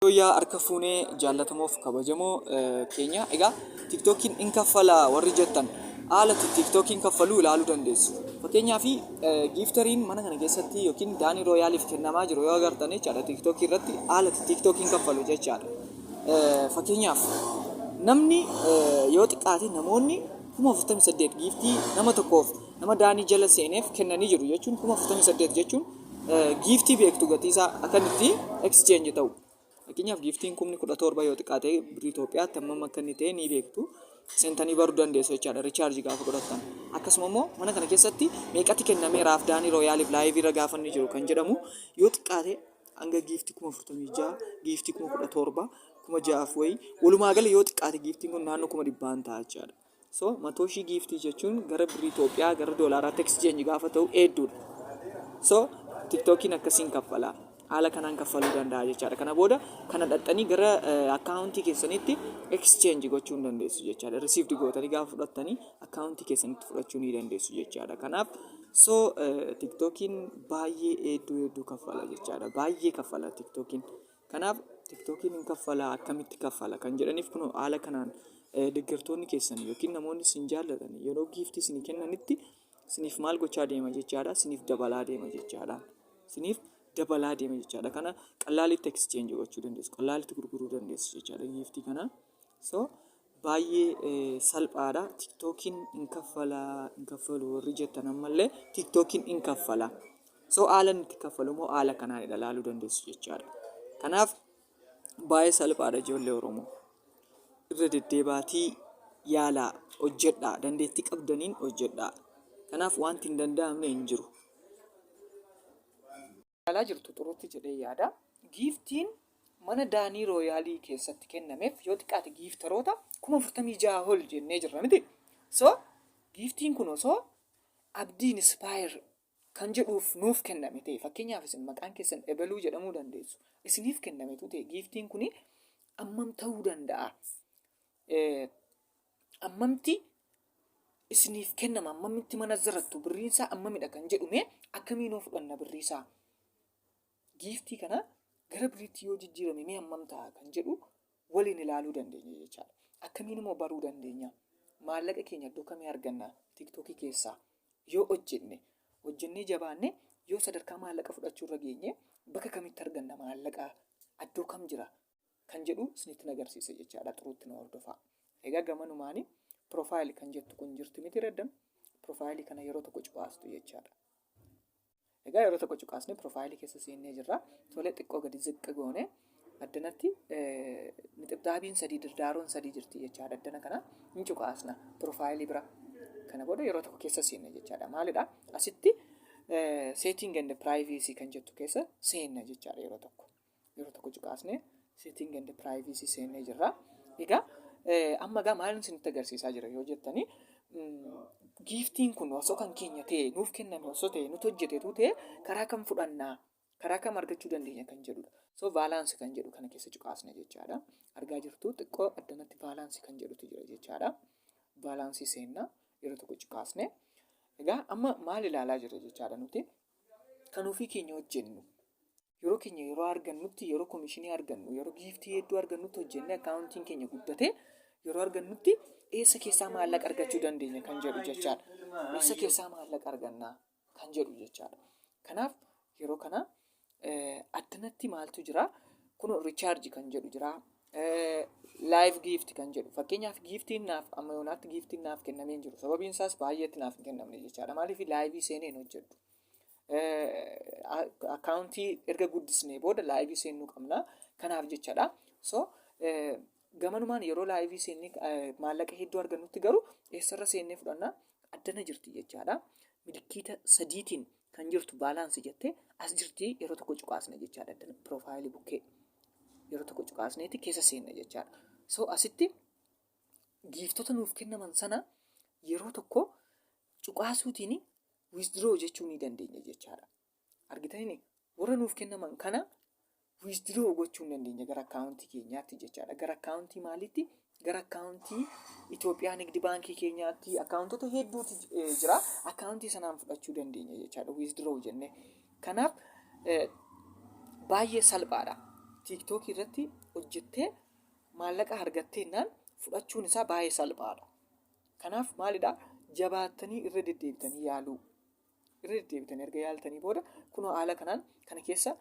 Yooyyaa harka fuunee jaallatamoof kabajamoo keenya. Egaa tiktookiin in kaffala warri jettan haala itti tiktookiin kaffaluu ilaaluu dandeessu. Fakkeenyaaf giiftariin mana kana keessatti yookiin daanii rooyaaliif kennamaa jiru yoo agartan jechaadha tiktookii irratti haala itti tiktookiin kaffalu jechaadha. Fakkeenyaaf namni yoo xiqqaate namoonni kuma 48 giiftii nama tokkoof nama daanii jala seeneef kennanii jiru jechuun kuma 48 jechuun giiftii beektu gatiisaa akkan itti exchange ta'u. Fakkeenyaaf giiftiin kumni kudha torba yoo xiqqaate birrii Itoophiyaatti hammam akka inni ta'e ni beektu. Seentanii baruu dandeessu jechaadha richaarji gaafa godhattan. Akkasuma immoo mana kana keessatti meeqatti kennamee raafdaanii rooyaaliif laayivii irra gaafa inni jiru kan jedhamu yoo xiqqaate hanga giiftii kuma afurtamii ja'a giiftii kuma kudha torba kuma ja'aaf wayii walumaa gala yoo xiqqaate giiftiin kun naannoo kuma dhibbaan ta'a jechaadha. So matooshii giiftii jechuun gara birrii Itoophiyaa gara doolaaraatti exchange gaafa ta'u hedduudha. So tiktokiin akkasiin kaffala. Haala kanaan kaffaluu danda'a jechaadha. Kana booda kana dhaxxanii gara akkaawuntii keessanitti exchange gochuu hin dandeessu jechaadha. Received gootanii gaafa fudhattanii akkaawuntii keessanitti fudhachuu ni dandeessu jechaadha. Kanaaf so tiktokiin baay'ee hedduu hedduu kaffala jechaadha. Baay'ee kaffala tiktokiin. Kanaaf tiktokiin hin kaffalaa akkamitti kaffala kan jedhaniif kunoo haala kanaan deggertoonni keessan yookiin namoonni isin jaallatan yeroo giiftii isinii kennanitti isiniif maal gochaa deema jechaadha isiniif dabalaa deema jechaadha isiniif dabalaa deema jechaadha kana qallaalitti exchange gochuu dandeessu qallaalitti gurguruu dandeessu jechaadha giiftii kana So baay'ee salphaadha tiktokiin hin kaffala hin kaffalu warri jettan ammallee tiktokiin hin kaffala. So haala inni itti kaffalu immoo haala kanaan ilaaluu dandeessu jechaadha. Kanaaf baay'ee salphaadha ijoollee Oromoo. Irra deddeebaatii yaalaa hojjedhaa dandeettii qabdaniin hojjedhaa. Kanaaf wanti hin danda'amne hin jiru. yaalaa jirtu xuruutti jedhee yaada. Giiftiin mana Daanii Rooyaalii keessatti kennameef yoo xiqqaate giiftaroota kuma afurtamii ja'a ol jennee jirra miti. So giiftiin kun osoo abdii inspire kan jedhuuf nuuf kenname ta'e fakkeenyaaf isin maqaan keessan ebeluu jedhamuu dandeessu isiniif kennametu ta'e giiftiin kun ammam ta'uu danda'a ammamti isiniif kennama ammamitti mana zarattu birriin isaa ammamidha kan jedhu mee akkamii noo fudhanna birrii isaa giiftii kana gara birriitti yoo jijjiirame mee ammam ta'a kan jedhu waliin ilaaluu dandeenya jechaadha akkamiin immoo baruu dandeenya maallaqa keenya iddoo kamii arganna tiktookii keessaa yoo hojjenne hojjennee jabaanne yoo sadarkaa maallaqa fudhachuu irra geenye bakka kamitti arganna maallaqa iddoo kam jira kan jedhu isinitti agarsiise jechaadha xuruutti na hordofaa egaa gamanumaanii piroofaayili kan jettu kun jirti miti reddan piroofaayilii kana yeroo tokko cuqaastu jechaadha egaa yeroo tokko cuqaasnee piroofaayilii keessa seennee jirra tolee xiqqoo gadi ziqqi goone addanatti nixibdaabiin sadii dirdaaroon sadii jirti jechaadha addana kana hin cuqaasna piroofaayilii bira kana booda yeroo tokko keessa seenne jechaadha maalidha asitti seetiin ganda piraayiveesii kan jettu keessa seenna jechaadha yeroo tokko yeroo tokko cuqaasnee sitting and privacy seennee jirra. Egaa amma egaa maal isinitti agarsiisaa jira yoo jettanii giiftiin kun osoo kan keenya ta'e nuuf kenname osoo ta'e nuti hojjetetu ta'e karaa kam fudhannaa karaa kam argachuu dandeenya kan jedhudha. So vaalaansi kan jedhu kana keessa cuqaasna jechaadha. Argaa jirtu xiqqoo addanatti vaalaansi kan jedhutu jira jechaadha. Vaalaansii seenna yeroo tokko cuqaasne. Egaa amma maal ilaalaa jirra jechaadha nuti kan ofii keenya hojjennu yeroo keenya yeroo argannutti yeroo komishinii argannu yeroo giiftii hedduu argannutti hojjennee akkaawuntiin keenya guddatee yeroo argannutti eessa keessaa maallaqa argachuu dandeenya kan jedhu jechaadha. Eessa keessaa maallaqa argannaa kan jedhu jechaadha. Kanaaf yeroo kana addanatti maaltu jira? Kun richaarji kan jedhu jira. Laayiv giifti kan jedhu fakkeenyaaf giiftiin naaf amma yoonaatti giiftiin naaf kennamee hin jiru sababiin isaas baay'eetti naaf hin kennamne jechaadha maaliif laayivii seenee hin hojjedhu akkaawuntii erga guddisnee booda laayivii seennuu qabna kanaaf jechadha so gamanumaan yeroo laayivii seennee maallaqa hedduu argannutti garuu eessarra seennee fudhanna addana jirti jechaadha milikiita sadiitiin kan jirtu baalaansi jettee as jirti yeroo tokko cuqaasna jechaadha addana piroofaayilii bukkee yeroo tokko cuqaasneeti keessa seenna jechaadha so asitti giiftota nuuf kennaman sana yeroo tokko cuqaasuutiin withdraw jechuu ni dandeenya jechaadha. Argitanii warra nuuf kennaman kana withdraw gochuu ni dandeenya gara akkaawuntii keenyaatti jechaadha. Gara akkaawuntii maaliitti? Gara akkaawuntii Itoophiyaa Nigdi Baankii keenyaatti akkaawuntota hedduutu jira. Akkaawuntii sanaan fudhachuu dandeenya jechaadha withdraw jennee. Kanaaf baay'ee salphaadha. Tiiktookii irratti hojjettee maallaqa argatteennaan fudhachuun isaa baay'ee salphaadha. Kanaaf maalidhaa jabaattanii irra deddeebitanii yaaluu. Irra deddeebitanii erga yaaltanii booda kunoo haala kanaan kana keessa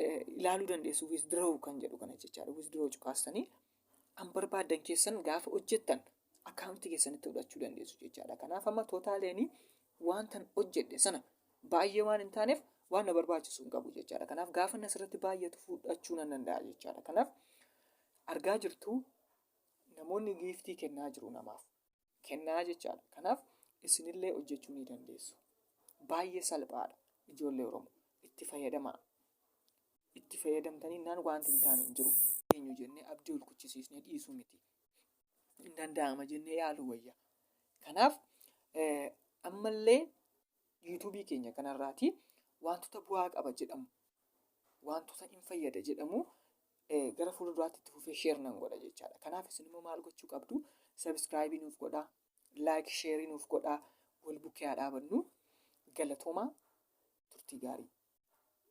eh, ilaaluu dandeessu withdraw kan jedhu kana jechaadha. Withdraw cuqaastanii kan barbaaddan keessan gaafa hojjettan akkaawuntii keessanitti fudhachuu dandeessu jechaadha. Kanaaf amma tootaaleenii wantan hojjedhe sana baay'ee waan hin taaneef waan na barbaachisu hin qabu jechaadha. Kanaaf gaafa inni asirratti baay'atu fudhachuu nan danda'a jechaadha. Kanaaf argaa jirtu Namoonni giiftii kennaa jiru namaaf. Kennaa jechaadha. Kanaaf isinillee hojjechuu ni dandeessu. Baay'ee salphaadha ijoollee Oromoo. Itti fayyadamaa. Itti fayyadamtaniinnaan waanti hin taane hin jiru. Eenyu jennee abdii ol kuchisiisnee dhiisuu miti. Hin danda'ama jennee yaaluu wayya. Kanaaf ammallee yuutuubii keenya kanarraati wantoota bu'aa qaba jedhamu wantoota hin fayyada jedhamu gara fuula duraatti itti fufee sheer nan godha jechaadha. Kanaaf isin immoo maal gochuu qabdu? Sabiskiraayibii nuuf godhaa, laayik sheerii nuuf godhaa, wal bukkee haa dhaabannu. Galatoomaa turtii gaarii.